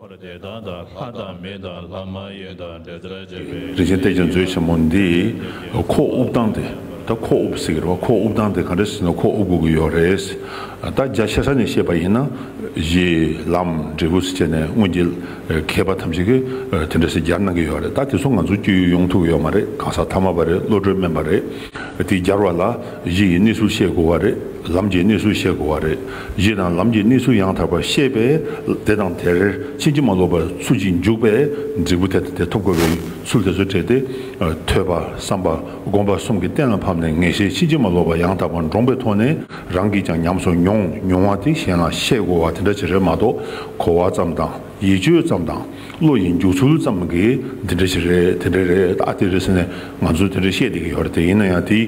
འཁོར་འདས་དང་དང་ལྷ་དང་མི་དང་ལྷ་མ་ཡིན་དང་འབྲེལ་ཟླར་བཅས་པའི། རིན་ཆེན་གཏེར་ཆེན་མཛོད་ཆེན་མོ་འདི་ཁོག་དབུབ་སྟངས་དེ་ད་ཁོག་དབུབ་ཟེར་གི་རེད་བ་ཁོག་དབུབ་སྟངས་དེ་ག་འདྲ་ཟེར་ན་ཁོག་དབུབ་དགོས་ཀྱི་ཡོད་རེད། ད་རྒྱ་ཆེ་ས་ནས་བཤད་པ་ཡིན་ན་གཞི་ལམ་འབྲས་བུ་ཟེར་ནས་སྔོན་གྱི་མཁས་པ་ཐམས་ཅད་ཀྱི་དེ་འདྲ་ཟེར་སྦྱར་གནང་གི་ཡོད་རེད་ད་དེ་ཚོ་ང་ཚོ་སྐྱོ་ཡུལ་ཡོང་ཐུབ་ཀྱི་ཡོད་མ་རེད་གང་ཟག་ཐ་མ་པ་རེད་བློ་གྲོས་དམན་པ་རེད་དེ་སྦྱར་བ་ལ་གཞི་ཡི་གནས་ཚུལ་བཤད་དགོས་བ་རེད་ལམ་གྱི་གནས་ཚུལ་བཤད་དགོས་བ་རེད། གཞི་དང་ལམ་གྱི་གནས་ཚུལ་ཡང་དག་པར་ཤེས་པས་དེ་དང་དེར་ཕྱིན་ཅི་མ་ལོག་པར་ཚུར་ཅིག་འཇུག་པས་འབྲས་བུ་དེ་དང་དེ་ཐོབ་དགོས་པའི་ཚུལ་དེ་ཚོ་བྲལ་ཏེ། ཐོས་པ་བསམ་པ་བསྒོམ་པ་གསུམ་གྱིས་གཏན་ལ་ཕབ་ནས་ངེས་ཤེས་ཕྱིན་ཅི་མ་ལོག་པ་ཡང་དག་པར་འདྲོངས་པའི་ཐོག་ནས་རང་གིས་ཀྱང་ཉམས་སུ་མྱོང་མྱོང་བ་དེ་གཞན་ལ་བཤད་དགོས་བ་དེ་འདྲ་ཅི་རེད་མ་གཏོགས་གོ་བ་ཙམ་དང། ཡིད་དཔྱོད་ཙམ་དང་བློ་ཡི་འཇུག་ཚུལ་ཙམ་གྱིས་འདི་འདྲ་ཞིག་རེད་དེ་འདྲ་རེད་ད་དེ་རེད་ཟེར་ནས་ང་ཚོས་དེ་འདྲ་བཤད་བསྡད་ཀྱི་ཡོད་རེད་དེ་ཡིན་ན་ཡང་དེའི་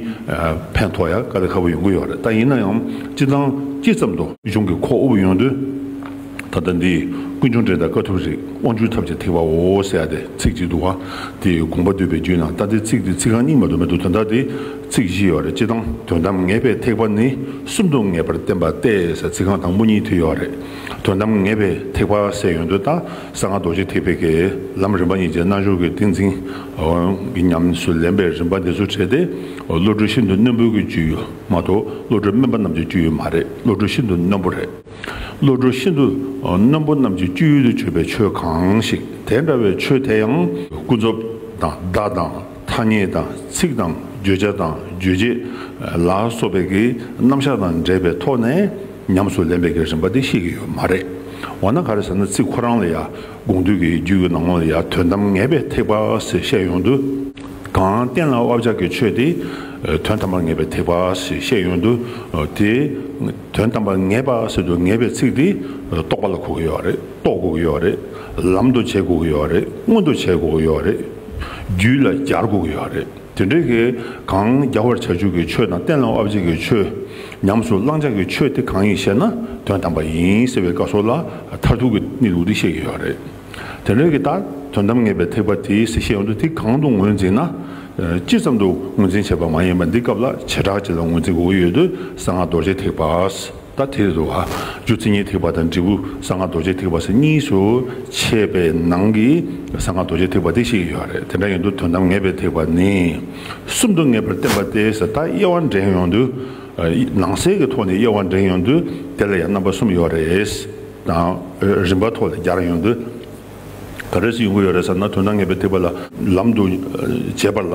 ཕན་ཐོགས་ཡ་དཀའ་ལས་ཁ་པོ་ཡོང་གི་ཡོད་རེད་ད་ཡིན་ན་ཡང་སྤྱི་བཏང་སྤྱི་ཙམ་དུ། གཞུང་གི་ཁོག་དབུབ་ཡོང་དུས་ད་ལྟ་འདི་ཀུན་འབྱུང་འགྲེལ་དང་དཀའ་ཐུབ་རིགས་དབང་ཕྱུག་ཐབས་ཀྱི་ཐེག་པ་འོ་ཟེར་ཡ་དེ་ཚིག་ཅིག་འདུག་ག་དེའི་དགོངས་པ་བསྡུས་པའི་རྒྱུད་ནང་ལྟ་དེ་ཚིག་དེ་ཚིག་རྐང་རྙིང་བ་དུ་མ་འདུག་དོན་དག་དེ་ཚིག་བཞི་ཡོད་རེད་སྤྱི་བཏང་དོན་དམ་ངེས་པའི་ཐེག་པ་ནི་གསུམ་དུ་ངེས་པར་བསྟན་པ་སྟེ་ཟེར་ཚིག་རྐང་དང་པོ་གཉིས་དེ་ཡོད་རེད། དོན་དམ་ངེས་པའི་ཐེག་པ་སའི་ཡོན་ཏན་དང་གསང་སྔགས་རྡོ་རྗེ་ཐེག་པའི་དགེ་ལམ་རིམ་པ་གཉིས་ཀྱི་རྣལ་འབྱོར་གྱི་ཏིང་འཛིན་གྱི་ཉམས་སུ་ལེན་པའི་རིམ་པ་འདི་ཚོ་བྲལ་ཏེ་བློ་གྲོས་ཤིན་ཏུ་རྣོན་པོའི་གྱི་རྒྱུ་ཡོད་མ་གཏོགས་བློ་གྲོས་དམན་པ་རྣམས་ཀྱི་རྒྱུ་ཡོད་མ་རེད་བློ་གྲོས་ཤིན་ཏུ་རྣོན་པོ་རེད། བློ་གྲོས་ཤིན་ཏུ་རྣོན་པོ་རྣམས་ཀྱི་སྤྱོད་ཡུལ་དུ་བརྗོད་པའི་ཆོས་གང་ཞིག་དེ་འདྲ་བའི་ཆོས་དེ་ཡང། ཀུན་རྫོབ་དང་བརྡ་དང་ཐ་སྙད་དང་ཚིག་དང་བརྗོད་བྱ་དང་རྗོད་བྱེད་ལ་སོགས་པའི་གྱི་རྣམ་གཞག་དང་འབྲེལ་པའི་ཐོག་ནས། ཉམས་སུ་ལེན་པའི་གི་རིམ་པ་དེ་ཤེས་ཀྱི་ཡོད་མ་རེད། འོ་ན་ག་རེ་ཟེར་ན་ཚིག་ཁོ་རང་ལ་ཡང་དགོངས་འདུས་ཀྱི་རྒྱུད་ཀྱི་ནང་ལ་ཡང་དོན་དམ་ངེས་པའི་ཐེག་པ་ཞེས་བཤད་ཡོང་དུས། གང་གཏན་ལ་དབབ་བྱ་གི་ཆོས་དེ་དོན་དམ་པར་ངེས་པའི་ཐེག་པ་ཞེས་བཤད་ཡོང་དུས། དེ་དོན་དམ་པར་ངེས་པ་ཟེར་དུས་ངེས་པའི་ཚིག་དེ་རྟོགས་པ་ལ་གོ་གི་ཡོད་རེད་རྟོགས་དགོས་ཀྱི་ཡོད་རེད། ལམ་དུ་བྱེད་དགོས་ཀྱི་ཡོད་རེད་མངོན་དུ་བྱེད་དགོས་ཀྱི་ཡོད་རེད། རྒྱུད་ལ་སྦྱར་དགོས་ཀྱི་ཡོད་རེད། དེ་འདྲའི་གི་གང་རྒྱ་བར་བྱ་བཅུག་གི་ཆོས་དང་གཏན་ལ་དབབ་བྱེད་ཀྱི་ཆོས། ཉམས་སུ་བླང་བྱ་གི་ཆོས་དེ་གང་ཡིན་ཞེ་ན་དོན་དམ་པ་ཡིན་ཟེར་བའི་བཀའ་སོགས་ལ་མཐར་ཐུག་གི་གནས་ལུགས་དེ་བཤད་ཀྱི་ཡོད་རེད། དེ་འདྲའི་གི་དག་དོན་དམ་ངེས་པའི་ཐེག་པ་དེའི་གཟིགས་ཤེས་ཡོངས་འདུ་དེ་གང་དུ་ངོས་འཛིན་ན། ཅི་ཙམ་དུ་ངོས་འཛིན་བྱས་པ་མ་ཡིན་པ་འདི་སྐབས་ལ་བྱེ་བྲག་ཅིག་ལ་ངོས་འཛིན་དགོས་ཀྱི་ཡོད་དུས་གསང་སྔགས་རྡོ་རྗེ་ཐེག་པ། ལྟ་དེ་རེད་དོ། རྒྱུ་རྩི་ཉེའི་ཐེག་པ་དང་འབྲས་བུ་གསང་སྔགས་རྡོ་རྗེའི་ཐེག་པ་སོགས་གཉིས་སུ་ཕྱེས་པའི་ནང་གི་གསང་སྔགས་རྡོ་རྗེའི་ཐེག་པ་དེ་བཤད་ཀྱི་ཡོད་རེད། དེ་འདྲ་ཡིན་དུས་དོན་དམ་ངེས་པའི་ཐེག་པ་ནི་གསུམ་དུ་ངེས་པར་བསྟན་པ་སྟེ་ཟད་མཐའ་དབྱེ་བ་འདྲེན་ཡོང་དུས། ནང་གསེས་ཀྱི་ཐོག་ནས་དབྱེ་བ་འདྲེན་ཡོང་དུས་དེ་ལ་ཡང་རྣམ་པ་གསུམ་ཡོད་རེད། དང། རིམ་པ་ཐོག་ལ་སྦྱར་ཡོང་དུས། ག་རེ་སུ་ཡོང་གི་ཡོད་རེད་ཟེར་ན་དོན་དམ་ངེས་པའི་ཐེག་པ་ལ་ལམ་དུ་བྱེད་པ་ལ།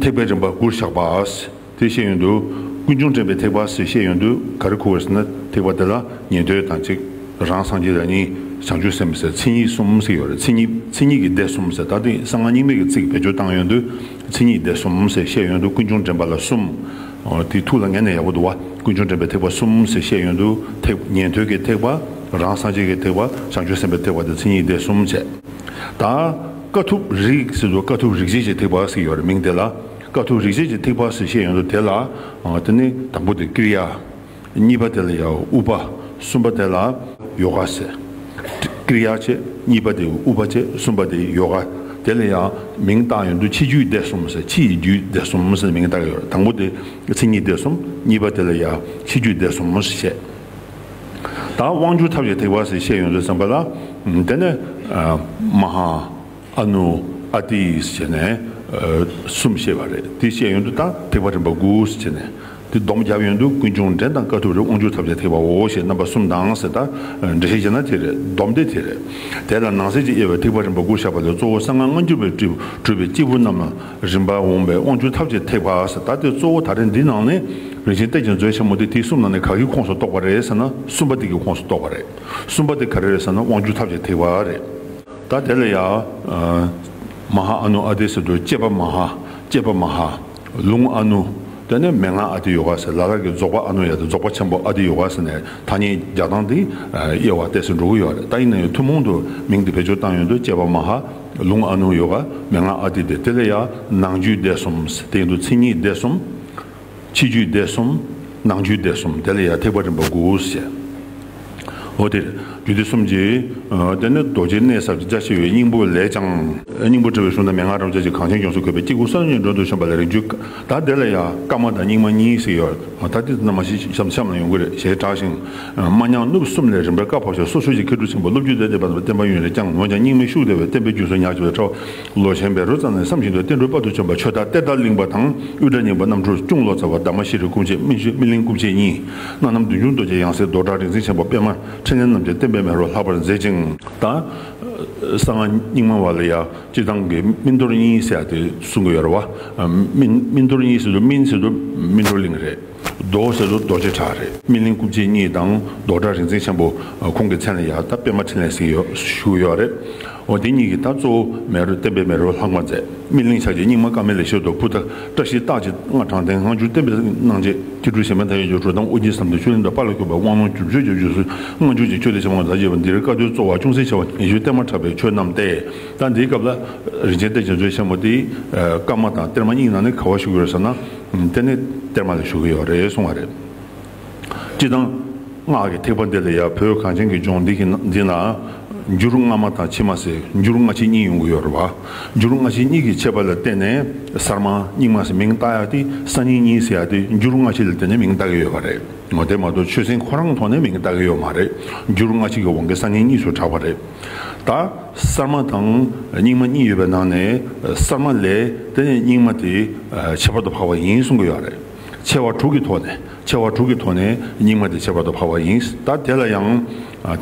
ཐེག་པའི་རིམ་པ་དགུར་བཞག་པ། དེ་བཤད་ཡོན་དུ། ཀུན་འབྱུང་འདྲེན་པའི་ཐེག་པ་ཞེས་བཤད་ཡོན་དུ་ག་རེ་ཁུར་བ་ཟེར་ན་ཐེག་པ་འདི་ལ་ཉན་ཐོས་དང་གཅིག་རང་སངས་རྒྱས་དང་གཉིས་བྱང་ཆུབ་སེམས་ཟེར་མཚན་ཉིད་གསུམ་ཟེར་ཡོད་རེད་མཚན་ཉིད་མཚན་ཉིད་ཀྱི་སྡེ་གསུམ་ཟེར་ད་ལྟ་གསང་སྔགས་རྙིང་མའི་གི་ཚིག་བེད་སྤྱོད་བཏང་ཡོན་དུ་མཚན་ཉིད་སྡེ་གསུམ་ཟེར་བཤད་ཡོན་དུ་ཀུན་འབྱུང་འདྲེན་པ་ལ་གསུམ། དེ་ཐུགས་ལ་ངེས་ནས་ཡག་པོ་འདུག་བ་ཀུན་འབྱུང་འདྲེན་པའི་ཐེག་པ་གསུམ་ཟེར་བཤད་ཡོན་དུ་ཐེག་ཉན་ཐོས་ཀྱི་ཐེག་པ་རང་སངས་རྒྱས་ཀྱི་ཐེག་པ་བྱང་ཆུབ་སེམས་པའི་ཐེག་པ་དེ་མཚན་ཉིད་སྡེ་གསུམ་བྱས་ད། དཀའ་ཐུབ་རིགས་ཟེར་དུས་དཀའ་ཐུབ་རིགས་བྱེད་ཅེས་ཐིག་བག་ཟེར་ཡོད་རེད་མིང་དེ་ལ་དཀའ་ཐུབ་རིགས་བྱེད་ཅེས་ཐིག་བག་ཟེར་བཤད་ཡོད་འདུག་དེ་ལ་དེ་ནི་དང་པོ་དེ་ཀི་རི་ཡ། གཉིས་པ་དེ་ལ་ཡ་ཨུ་པ། གསུམ་པ་དེ་ལ་ཡོ་ག་ཟེར། ཀི་རི་ཡ་བྱེད་གཉིས་པ་དེ་ཨུ་པ་བྱེད་གསུམ་པ་དེ་ཡོ་ག། དེ་ལ་ཡ་མིང་བཏགས་ཡོད་འདུག་ཕྱི་རྒྱུད་སྡེ་གསུམ་ཟེར་ཕྱི་ཡི་རྒྱུད་སྡེ་གསུམ་ཟེར་མིང་བཏགས་ཡོད་རེད་དང་པོ་དེ་མཚན་ཉིད་སྡེ་གསུམ་གཉིས་པ་དེ་ལ་ཡ་ཕྱི་རྒྱུད་སྡེ་གསུམ་ཞེས་བཤད། ད་དབང་བསྒྱུར་ཐབས་ཀྱི་ཐེག་པ་ཟེར་བཤད་ཡོང་ཟེར་བསམ་པ་ལ། དེ་ནས། མ་ཧཱ། ཨ་ནུ། ཨ་ཏིས་བྱས་ནས། གསུམ་བཤད་པ་རེད་དེ་བཤད་ཡོང་དུས་ད་ཐེག་པ་རིམ་པ་དགུ་ཟེར་བྱས་ནས། དེ་སྡོམ་བརྒྱབ་ཡོང་དུས་ཀུན་འབྱུང་འདྲེན་དང་དཀའ་ཐུབ་རེ་དབང་བསྒྱུར་ཐབས་ཀྱི་ཐེག་པའོ་ཞེས་རྣམ་པ་གསུམ་དང་ཟེར་ད། འགྲེལ་བཤད་བྱས་ན་དེ་རེད་སྡོམ་དེ་དེ་རེད། དེ་ལ་ནང་གསེས་ཀྱི་དབྱེ་བའི་ཐེག་པ་རིམ་པ་དགུར་བཞག་པ་ལས་གཙོ་བོ་གསང་སྔགས་སྔ་འགྱུར་བའི་སྤྲུལ་པའི་སྐྱེས་བུ་རྣམས་ལ་རིམ་པར་འོངས་པའི་དབང་བྱུང་ཐབས་ཀྱི་ཐེག་པ་ཨ་ས་ད་དེ་གཙོ་བོ་ད་རེས་འདི་ནང་ནས་རིན་ཆེན་གཏད་ཅིང་མཛོད་ཆེན་མོ་དེ་དེ་གསུམ་ནང་ནས་ག་གི་ཁོངས་སུ་གཏོགས་པ་རེད་ཟེར་ན་གསུམ་པ་དེ་གི་ཁོངས་སུ་གཏོགས་པ་རེད་གསུམ་པ་དེ་ག་རེ་རེད་ཟེར་ན་དབང་བྱུང་ཐབས་ཀྱི་ཐེག་པ་རེད་ད་དེ་ལ་ཡང། མ་ཧཱ་ཨ་ནུ་ཨ་ཏི་ཟེར་དུས་བསྐྱེད་པ་མ་ཧཱ་བསྐྱེད་པ་མ་ཧཱ། ལུང་ཨ་ནུ། དེ་ནས་མན་ངག་ཨ་ཏི་ཡོ་ག་ཟེར་ལ་ལར་གྱི་རྫོགས་པ་ཨ་ནུ་ཡ་ཏི་རྫོགས་པ་ཆེན་པོ་ཨ་ཏི་ཡོ་ག་ཟེར་ནས་ཐ་སྙད་རྒྱག་སྟངས་འདི་དབྱེ་བ་གཏད་སྲོལ་འགྲོ་གི་ཡོད་རེད་ད་ཡིན་ན་ཡང་ཐུན་མོང་དུ་མིང་འདི་བེད་སྤྱོད་བཏང་ཡོད་འདུག་བསྐྱེད་པ་མ་ཧཱ། ལུང་ཨ་ནུ་ཡོ་ག་མན་ངག་ཨ་ཏི་དེ་ཏི་ལ་ཡ། ནང་རྒྱུད་སྡེ་གསུམ་སྟེང་དུ་ཚིག་གཉིས་སྡེ་གསུམ། ཕྱི་རྒྱུད་སྡེ་གསུམ། ནང་རྒྱུད་སྡེ་གསུམ་དེ་ལ་ཡ་ཐེག་པ་རིམ་པ་དགུ་བཤད། འོ་དེར་རྒྱུད་སྡེ་གསུམ་གྱི། དེ་ནི་རྡོ་རྗེ་གནས་ཟབ་ཀྱི་རྒྱ་ཆེ་བའི་སྙིང་པོ་ལས་ཀྱང། སྙིང་པོ་དྲིལ་བའི་གཞུང་དང་མན་ངག་རམ་བཅས་ཀྱི་གངས་ཅན་ཡོངས་སུ་བཀོད་པའི་སྐྱེ་དགུ་ས་བོན་གྱི་མགྲོན་དུ་བྱོན་པ་ལ་རིགས་རྒྱུད་དང་དེ་ལ་ཡ། སྐར་མ་དང་སྙིགས་མ་གཉིས་ཤིག་ཡོད། ད་འདི་རྣམས་མ་ཤེས་ཤམ་ཤམ་ལ་ཡོང་གི་རེད་ཞེས་གྲགས་ཤིང། དམའ་ཉམས་སྣུབས་གསུམ་ལས་རིམ་པར་བཀའ་བབས་ཤོག་སོགས་ཧྲུའུ་ཅི་མཁས་གྲུབ་ཆེན་པོ་བློ་བརྒྱུད་ལས་སྡེ་པ་ཚོ་བསྟན་པ་ཡུན་རིང་བསྐྱངས་འོན་ཀྱང་སྙིང་མི་ཤུགས་བདེ་བའི་བསྟན་པའི་རྒྱུན་སྲོལ་ཉག་ཅིག་པའི་ཁྲོད་ལོ་ཆེན་པའི་རོལ་ཙམ་ནས་བསམ་བཞིན་དུ་བསྟན་འགྲོའི་དཔའ་ཐུལ་བྱོན་པ་ཆོས་དར་གཏེར་དར་གླིང་པ་དང་དབུས་གྲྭ་རྙིང་པ་རྣམ་འཕྲུལ་སྐྱུང་ལོ་ཙཱ་བ་འདབ་མ་ཤེས་རིག་སྐུ་མཆེད་སྨིན་སྨིན་གླིང་སྐུ་མཆེད་གཉིས། སྣ་ནམ་བདུན་ཅུང་རྡོ་རྗེ་ཡང་སྲིད་རྡོར་བྲག་རིག་འཛིན་ཆེན་པོ་པདྨ་ཕྲིན་ལས་རྣམ་རྒྱལ་བསྟན་པའི་མེ་རོ་ལྷག་པར་མཛེས་ཅིང། དང། གསང་སྔགས་རྙིང་མ་བ་ལ་ཡང་སྤྱིར་བཏང་གི་སྨིན་རྡོར་གཉིས་བསྲེས་ཏེ་གསུང་གི་ཡོད་རེད་བ། སྨིན་རྡོར་གཉིས་སྲིད་དུ་སྨིན་སྲིད་དུ་སྨིན་རྡོར་གླིང་རེད། རྡོ་ཟེར་ལོ་རྡོ་རྗེ་བྲག་རེད། སྨིན་གླིང་སྐུ་མཆེད་གཉིས་དང་རྡོ་བྲག་རིག་འཛིན་ཆེན་པོ་ཁོང་གི་མཚན་ལ་ཡང་ད་སྤེལ་མ་འཕྲིན་ལས་ཟིག་བཞུགས་ཡོད་རེད། འོ་དེ་གཉིས་ཀྱིས་ད་གཙོ་བོ་མེ་རོ་བསྟན་པའི་མེ་རོ་ལྷག་མ་མཛད། སྨིན་གླིང་ཕྱག་རྒྱའི་རྙིང་མ་དཀར་མེ་ལས་ཤེལ་རྡོ་ཕུ་ཐ་བཀྲ་ཤིས་རྟགས་ཀྱི་སྔགས་དྲངས་རྟེན་སྔ་འགྱུར་བསྟན་པའི་གནང་རྗེས་སྐྱེ་སྤྲུལ་གཞན་ཕན་ཐ་ཡོད་ཀྱི་འགྲོ་དང་དབུ་རྒྱན་ཟམ་གདོང་ཆོས་གླིང་དང་པཱ་ལ་ཁྱོད་པའི་དབང་ལུང་རྒྱུ་སྤྱོད་རྒྱབ་ཆོས་སུ་སྔ་འགྱུར་གྱི་ཆོས་ལས་བྱེད་མང་དག་རྒྱས་པ་འདིར་བཀའ་སྡོད་གཙོ་བ་ཅུང་ཟད་ཆེ་བ་ཉི་ཤུའི་གཏེར་མ་གྲགས་པའི་ཆོས་རྣམས་ཏེ། ད་འདིའི་སྐབས་ལ། རིན་ཆེན་གཏེར་རྒྱ་མཚོའི་ཆེན་མོ་དེའི། སྐར་མ་དང་གཏེར་མ་གཉིས་ནང་ནས་ག་བ་བཞུགས་ཡོད་ཟེར་ན། དེ་ནི་གཏེར་མ་ལས་ཞུ་གི་ཡོད་རེད་གསུངས་བ་རེད། སྤྱི་དང། སྔགས་ཀྱི་ཐེག་པ་འདི་ལ་ཡང་བོད་གངས་ཅན་གྱི་ལྗོངས་འདི་འདི་ན། འགྱུར་སྔ་མ་དང་ཕྱི་མ་ཟེར་འགྱུར་སྔ་ཕྱི་གཉིས་ཡོང་གི་ཡོད་རེད་བ། འགྱུར་སྔ་ཕྱི་གཉིས་ཀྱི་ཁྱད་པར་ལ་བརྟེན་ནས་གསར་མ་རྙིང་མ་ཟེར་མིང་བཏགས་ཡག་ཏེ་གསར་རྙིང་གཉིས་ཟེར་ཡག་ཏེ་འགྱུར་སྔ་ཕྱི་ལ་བརྟེན་ནས་མིང་བཏགས་ཀྱི་ཡོད་བ་རེད། དེ་མ་གཏོགས་ཆོས་སྲིད་ཁོ་རང་ཐོག་ནས་མིང་བཏགས་ཀྱི་ཡོད་མ་རེད་འགྱུར་སྔ་ཕྱི་གི་དབང་གིས་གསར་རྙིང་གཉིས་སུ་གྲགས་བ་རེད། ད། གསར་མ་དང་རྙིང་མ་གཉིས་ཡོད་པའི་ནང་ནས་གསར་མ་ལས་དེ་ནས་རྙིང་མ་དེ་ཁྱད་པར་དུ་འཕགས་པ་ཡིན་གསུང་གི་ཡོད་རེད། ཆེ་བ་དྲུག་གི་ཐོག་ནས་ཆེ་བ་དྲུག་གི་ཐོག་ནས་རྙིང་མ་དེ་ཁྱད་པར་དུ་འཕགས་པ་ཡིན་ད་དེ་ལ་ཡང་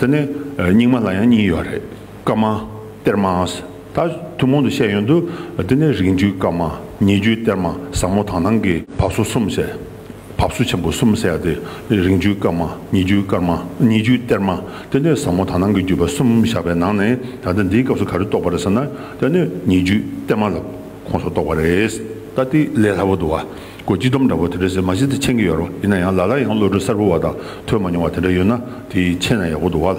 དེ་ནས་རྙིང་མ་ལ་ཡང་གཉིས་ཡོད་རེད་སྐར་མ་གཏེར་མ་ད་ཐུན་མོང་དུ་བཤད་ཡོན་དུ་དེ་ནས་རིགས་འགྲུས་སྐར་མ་ཉེ་རྒྱུས་གཏེར་མ་བཟང་མོ་དང་ནང་གི་བབས་སོ་གསུམ་བཤད། བབས་བསུ་ཆེན་པོ་གསུམ་བསལ་ཏེ་རིང་བརྒྱུད་སྐར་མ་ཉིས་བརྒྱུད་སྐར་མ་ཉིས་བརྒྱུད་གཏེར་མ་སྟེ་གནས་ཟབ་མོ་དག་སྣང་གི་བརྒྱུད་པ་གསུམ་བཞག་པའི་ནང་ནས་ད་ལྟ་འདིའི་སྐབས་སུ་ག་རེ་གཏོགས་པ་རེད་ཟེར་ན་སྟེ་གནས་ཉིས་བརྒྱུད་གཏེར་མ་ལ་ཁོངས་སུ་གཏོགས་པ་རེད། ད་ལྟའི་ལས་སླ་བོ་འདུག་ཨ་སྒོར་གཅིག་སྡོམ་འདྲ་བོ་དེ་འདྲ་ཟེར་མ་ཤེས་ཏེ་འཆད་ཀྱི་ཡོད་རེད་ཡིན་ན་ཡང་ལ་ལ་ཡང་བློ་གྲོས་གསར་བུ་བ་དག་ཐོས་མ་མྱོང་བ་དེ་འདྲ་ཡོད་ན་དེ་འཆད་ན་ཡག་པོ་འདུག་ཨ།